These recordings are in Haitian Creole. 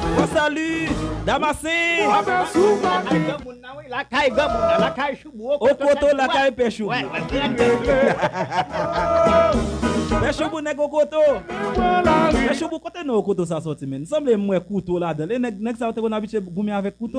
Bon salut Damascene. Okoto lakay pè choubou. Pè choubou nèg okoto. Pè choubou kote non okoto sa soti menn? Sanble m wè kouto ladanl e nèg sa yo te konn abitye goumen avèk kouto?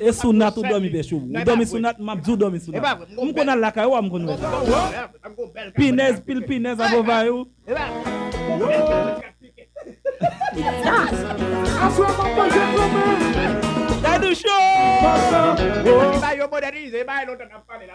E sou nat ou domi pechou. Ou domi sou nat map diw domi sou nat. M konn al lakay ou a m konn wè sa. Pinèz pil pinèz a vovay ou. Dadou show.